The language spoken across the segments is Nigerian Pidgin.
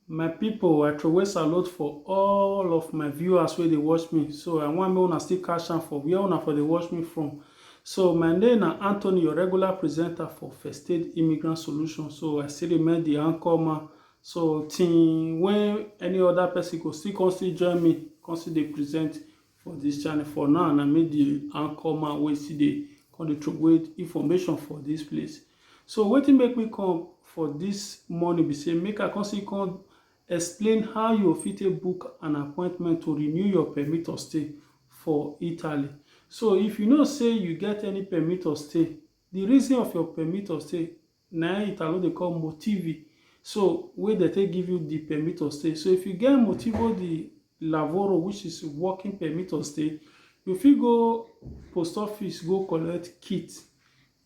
my people i throway salute for all of my viewers where they watch me so i want me una still cash am for where una for they watch me from so my name na anthony your regular presenter for first aid immigrant solution so i still remain the anchor man so till when any other person go still come still join me come still dey present for this channel for now na me the anchor man wey still dey come dey throway information for this place so wetin make me come for this morning be say make i come see come explain how you fit take book an appointment to renew your permit of stay for italy so if you know say you get any permit of stay the reason of your permit of stay na im Italo dey call motivi. So, wey dem take give you di permit to stay. So, if you get motivo di lavoro which is working permit to stay, you fit go post office go collect kit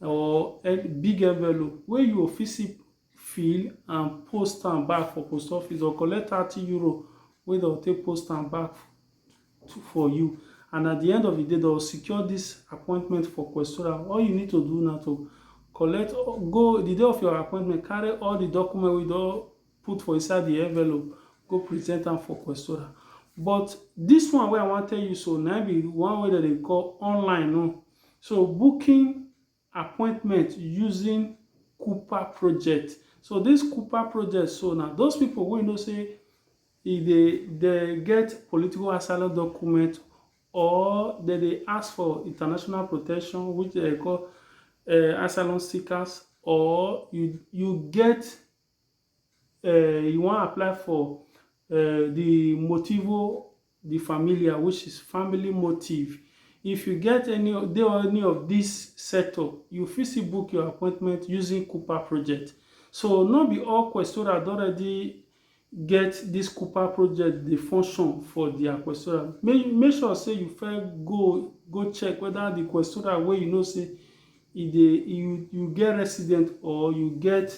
or big envelope wey you go fit still fill and post am back for post office or collect thirty euro wey dem go take post am back for you and at the end of the day they'll secure this appointment for Questora all you need to do now to collect go the day of your appointment carry all the document we don put for inside the envelope go present am for Questora but this one wey i wan tell you so na be one way that they call online no so booking appointment using Cooper project. So this Cooper project, so now those people wey know say e dey dey get political asylum document or dem dey ask for international protection which dem call uh, asylum seekers or you you get uh, you wan apply for uh, the motivo the familia which is family motive if you get any of dey any of this sector you fit still book your appointment using Cooper project so no be all questora don already get this Cooper project dey function for their questora make make sure say you first go go check whether the questora wey you know say e dey you you get resident or you get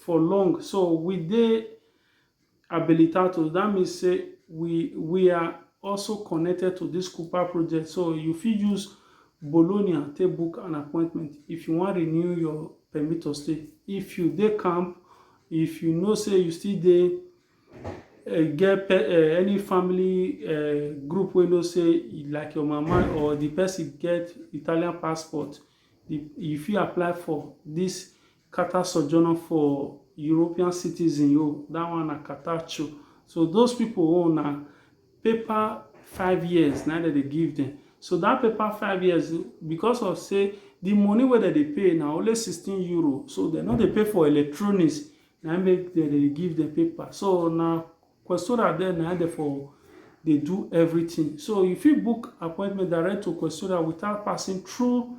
for long so we dey habilitados that means say we we are also connected to this Cooper project so you fit use Bologna take book an appointment if you wan renew your permit to stay if you dey camp if you know say you still dey uh, get pe uh, any family uh, group wey know say like your mama or the person get Italian passport the, you fit apply for this Carter sojourner for European citizen oh, that one na Carter cho. So those people oh na paper five years na dem dey give them. So that paper five years because of say the money wey dem dey pay na only sixteen euro so dem no dey pay for electronics na make dem dey give them paper. So na Questora there na dem for dey do everything. So you fit book appointment direct to Questora without passing through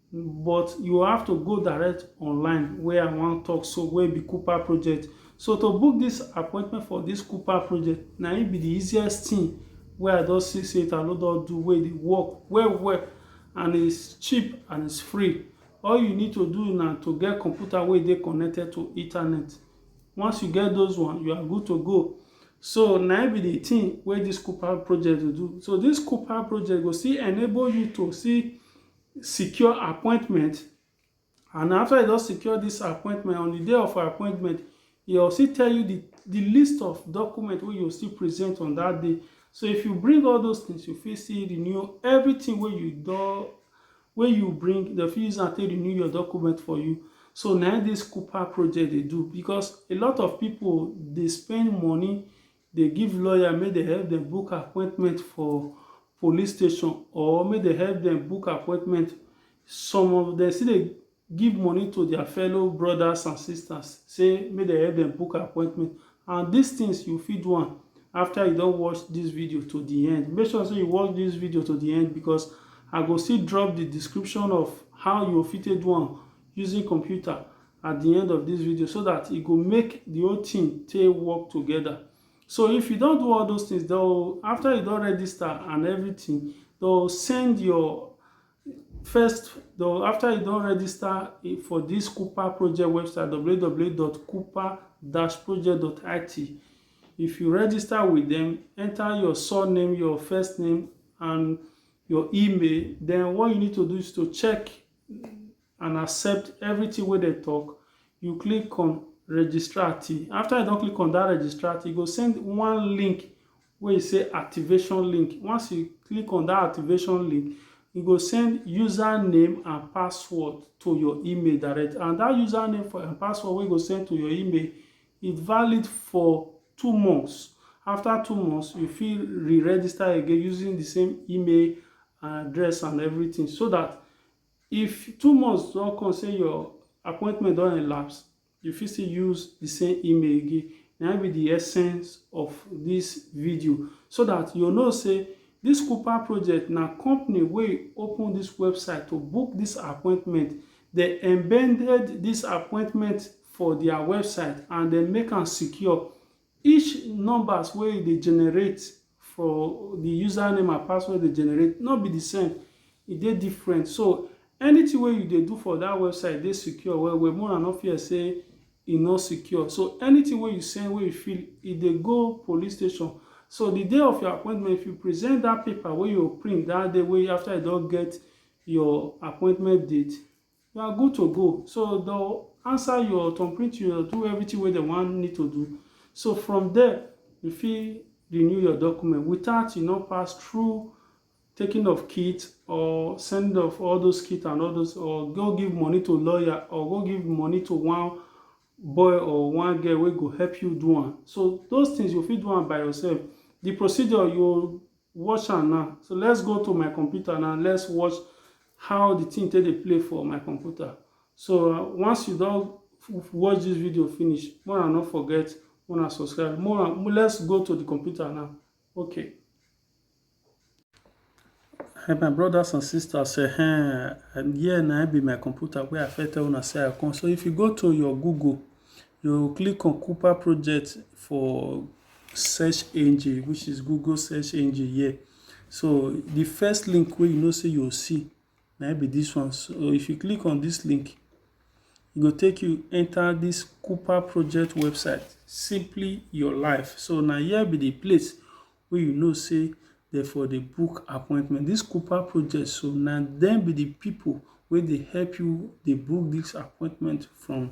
but you have to go direct online wey I wan talk so wey be Cooper project. So to book this appointment for this Cooper project na im be the easiest thing wey I don see say Italo don do wey dey work well well and it's cheap and it's free. All you need to do na to get computer wey dey connected to internet. Once you get those one, you are good to go. So na im be the thing wey this Cooper project dey do. So this Cooper project go still enable you to see secure appointment and after e don secure this appointment on the day of her appointment e go still tell you the the list of document wey you still present on that day so if you bring all those things you fit still renew everything wey you don wey you bring dem fit use am take renew your document for you so na this Cooper project dey do because a lot of people dey spend money dey give lawyer make dem help dem book appointment for police station or make dem help dem book appointment. Some of dem still dey give money to their fellow brothers and sisters sey make dem help dem book appointment and these things you fit do am after you don watch this video to the end. Make sure sey you watch this video to the end because I go still drop the description of how you go fit take do am using computer at the end of this video so that e go make the whole thing take work together so if you don do all those things though after you don register and everything they'll send your first though after you don register eh, for this cooper project website www.cooper-project.it if you register with them enter your surname your first name and your email then what you need to do is to check and accept everything wey dem talk, you click on registrati. After you don click on that registrati, e go send one link wey e say activation link. Once you click on that activation link, e go send username and password to your email direct. And that username for and password wey e go send to your email, e valid for two months. After two months, you fit re-register again using the same email address and everything so that If two months don come sey your appointment don elapse, you fit still use the same email again. Na im be the essence of this video so that you know sey this Kupa project na company wey open this website to book this appointment. They embedded this appointment for their website and they make am secure. Each numbers wey you dey generate for the username and password dey generate no be the same, e dey different. So anything wey you dey do for that website dey secure well well, make una no fear say e no secure. So anything wey you send, wey you fill, e dey go police station. So the day of your appointment, if you present that paper wey you print that day wey after you don get your appointment date, you are good to go so they'll answer your thumbprint you do everything where they want need to do so from there you feel renew your document without you know pass through taking of kit or send off all those kit and all those or go give money to lawyer or go give money to one boy or one girl will go help you do one so those things you feel do one by yourself the procedure you watch am now so let's go to my computer now let's watch how the thing take dey play for my computer so uh, once you don watch this video finish more and not forget more and subscribe more and let's go to the computer now okay Hey, my brothers and sisters say hey, and here na be my computer where i fit tell una say i come so if you go to your google you click on cooper project for search engine which is google search engine here so the first link wey you know say you see na be this one so if you click on this link e go take you enter this cooper project website simply your life so na here be the place wey you know say dem for the book appointment this cooper project so na dem be the people wey dey help you dey book this appointment from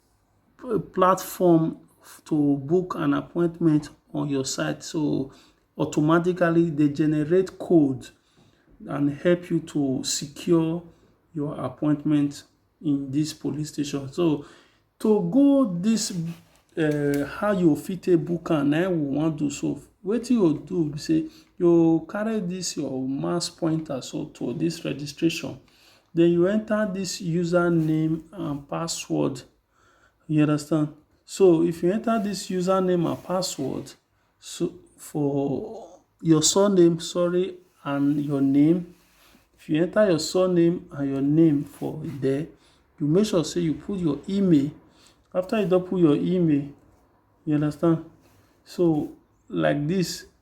platform to book an appointment on your site. So automatically they generate code and help you to secure your appointment in this police station. So to go this uh, how you fit take book am na we wan do so wetin you do be say you carry this your mouse pointer so to this registration Den you enter dis user name and password. You understand? So, if you enter dis user name and password, so for your surname, sorry, and your name, if you enter your surname and your name for there, you make sure say you put your email. After you don put your email, you understand? So, like dis,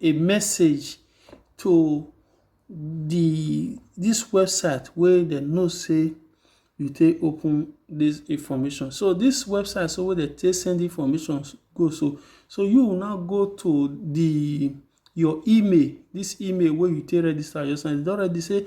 a message to di dis website wey dem know sey you take open dis information. So, dis website so wey dem take send information go so, so you will now go to di your email. Dis email wey you take register yourself. You don ready sey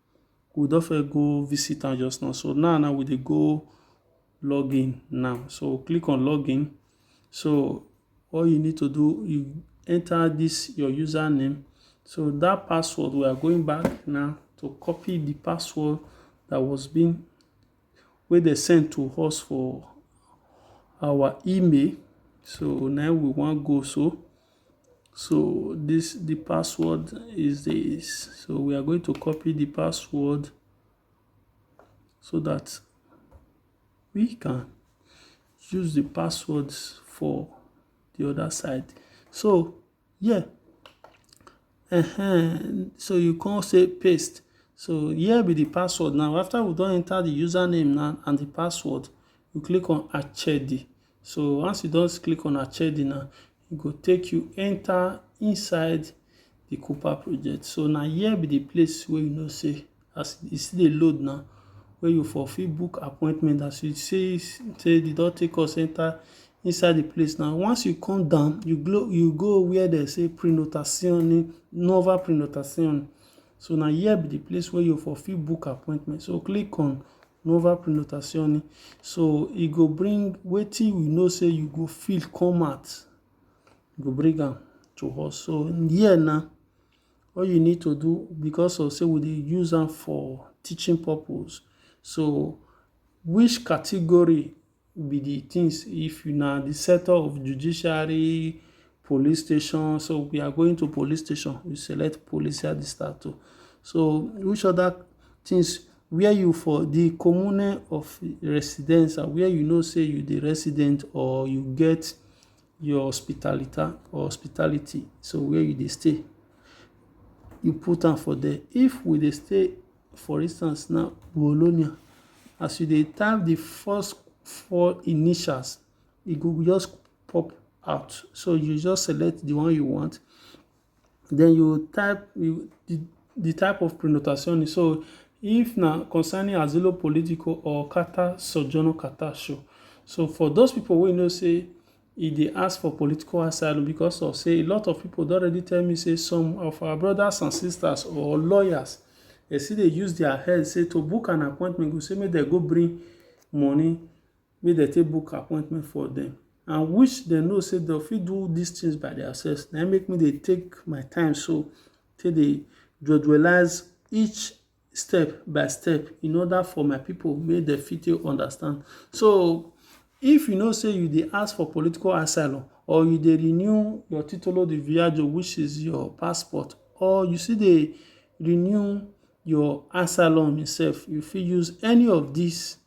we don first go visit am just now so now now we dey go login now so click on login so all you need to do you enter this your username so that password we are going back now to copy the password that was being wey dem send to us for our email. So now we want go so. So this the password is this. So we are going to copy the password so that we can use the passwords for the other side. So Yeah. Ehen, so you come say paste. So here be the password now. After we don enter the username now and the password, you click on Achedi. So once you just click on Achedi now, e go take you enter inside the Cooper project. So now here be the place where you know say As e still dey load now wey you for fit book appointment as you see sey e don take us enter inside de place now. Once you come down, you go you go where dem say prenotazione, nuova prenotazione. So na here be de place wey you for fit book appointment. So click on nuova prenotazione. So e go bring wetin you know sey you go fill come out, e go bring am to us. So here now All you need to do because of sey we dey use am for teaching purpose. So, which category be de things if na de sector of judiciary, police station. So, we are going to police station, we select police at de start oh. So, which other things where you for de commune of residence where you know sey you dey resident or you get your hospitalita or hospitality, so where you dey stay, you put am for there. If we dey stay for instance now Bologna, as you dey type the first four initials, e go just pop out. So you just select the one you want, den you go type di di type of pronunciation. So, if na concerning asilo politico or carta sojourner carta show. So, for dose pipu wey know sey e dey ask for political asylum becos of sey a lot of pipu don already tell me sey some of our brodas an sistas or lawyers, de still dey use dia head sey to book an appointment go sey make de go bring money. make dem take book appointment for dem and which dem know say dem fit do these things by themselves. Na make me dey take my time so take dey jejelize each step by step in order for my pipu make dem fit take understand. So if you know say you dey ask for political asylum or you dey renew your titolo di viajo which is your passport or you still dey renew your asylum itself, you fit use any of these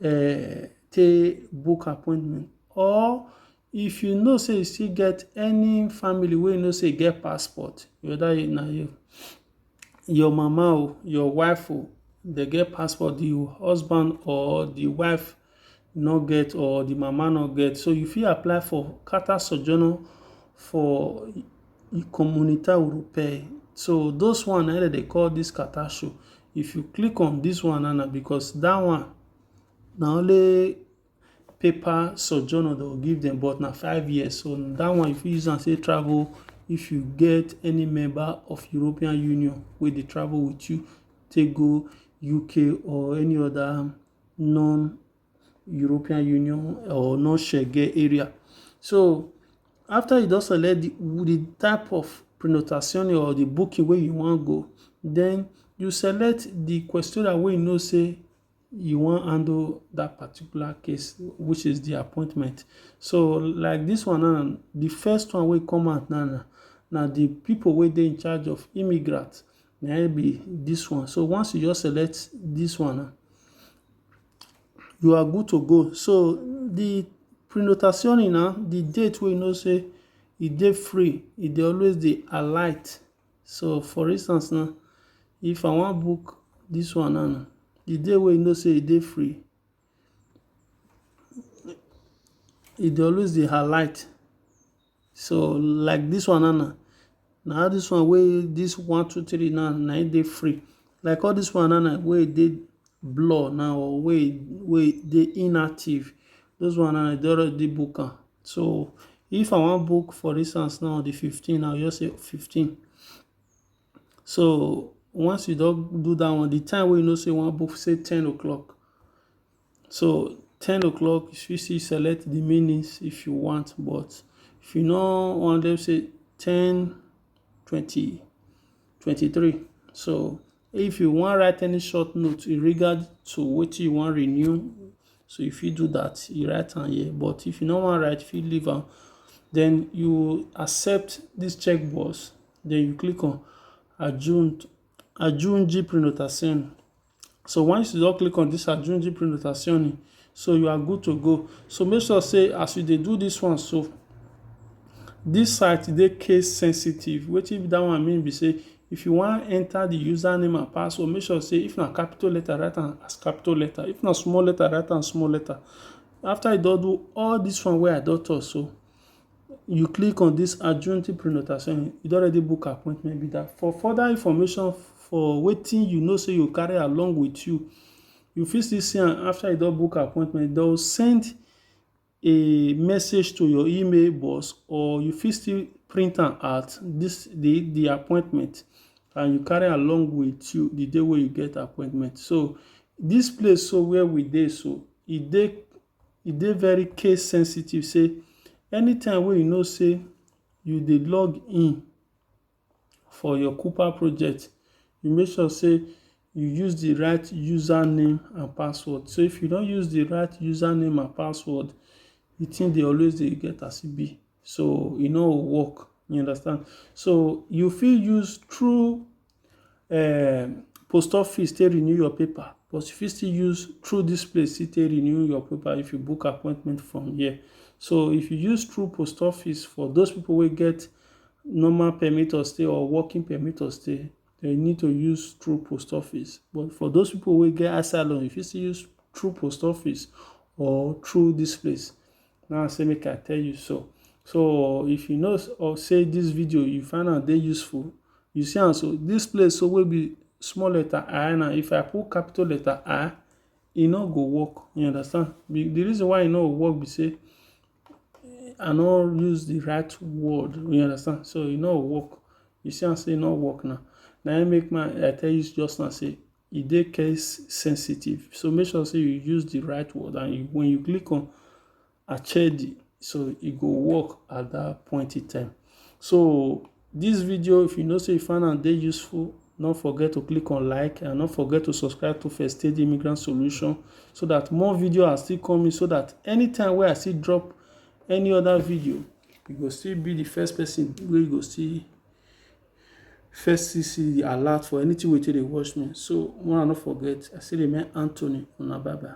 um take book appointment or if you know sey you still get any family wey you know sey e get passport, whether na your your mama oh, your wife oh, dem get passport, di husband or di wife no get or di mama no get. So you fit apply for Carta Sojourner for Comunità Europea. So those one na im dem dey call this Carter show. If you click on this one now na because that one na only paper sojourner dem go give dem but na five years. So that one you fit use am take travel if you get any member of European Union wey dey travel with you take go UK or any other non. European Union or no Schengen area. So after you don select the, the type of prenotazione or the booking where you wan go, then you select the questora where you know say you wan handle that particular case which is the appointment so like this one now the first one wey come out now na na the people wey dey in charge of immigrants na be this one so once you just select this one now you are good to go. So the prenotazione now, the date we know say e dey free, e dey always dey alight. So for instance now, if I wan book this one now, the day wey you know say e dey free, e dey always dey alight. So like this one now na, na how this one wey this one two three now na it dey free. Like all this one now na wey dey blur now or wey wey dey inactive. Those one now dey already book am. So if I wan book for instance now the fifteen, I will just say fifteen. So once you don do that one, the time wey you know say you wan book say ten o'clock. So ten o'clock you fit still select the minutes if you want but if you no want them say ten twenty twenty three so if you wan write any short note in regard to wetin you wan renew so you fit do that you write am here but if you no wan write you fit leave am then you accept this checkbox then you click on adjourn adjourn gprenotation So once you don click on this aggiungi prenotazioni, so you are good to go. So make sure say as you dey do this one so, this site dey case sensitive. Wetin that one mean be say if you wan enter the username and password, make sure say if na capital letter, write am as capital letter. If na small letter, write am small letter. After you don do all this one wey I don talk so, you click on dis Agenti Prenotazione, you don already book appointment be dat. For further information for wetin you know sey you go carry along with you, you fit still see am after you don book appointment. Dey will send a message to your email box or you fit still print am out dis de de appointment and you carry along with you de day wey you get appointment. So dis place so where we dey so, e dey E dey very case sensitive sey anytime wey you know sey you dey log in for your Kupa project, you make sure sey you use the right user name and password. So if you no use the right user name and password, the thing dey always dey get as e be. So e no go work. You understand? So you fit use through um post office take renew your paper but you fit still use through this place take renew your paper if you book appointment from here so if you use through post office for those people wey get normal permit or stay or working permit or stay they need to use through post office but for those people wey get asylum you fit still use through post office or through this place now say make i tell you so so if you know or say this video you find out they useful you see and so this place so will be small letter i now if i put capital letter i e no go work you understand the reason why e no work be say i no use the right word you understand so e no work you see am say e no work now na im make my i tell you just now say e dey case sensitive. So make sure sey you use de right word and wen you click on Achedi so e go work at dat point in time. So dis video if you know sey you find am dey useful no forget to click on like and no forget to subscribe to First Aid Immigrant Solution so dat more video are still coming so dat anytime wey I still drop any other video you go still be de first person wey go see First CC the alert for anything wey take dey watch me. So una no forget, I still remain Anthony, una bye bye.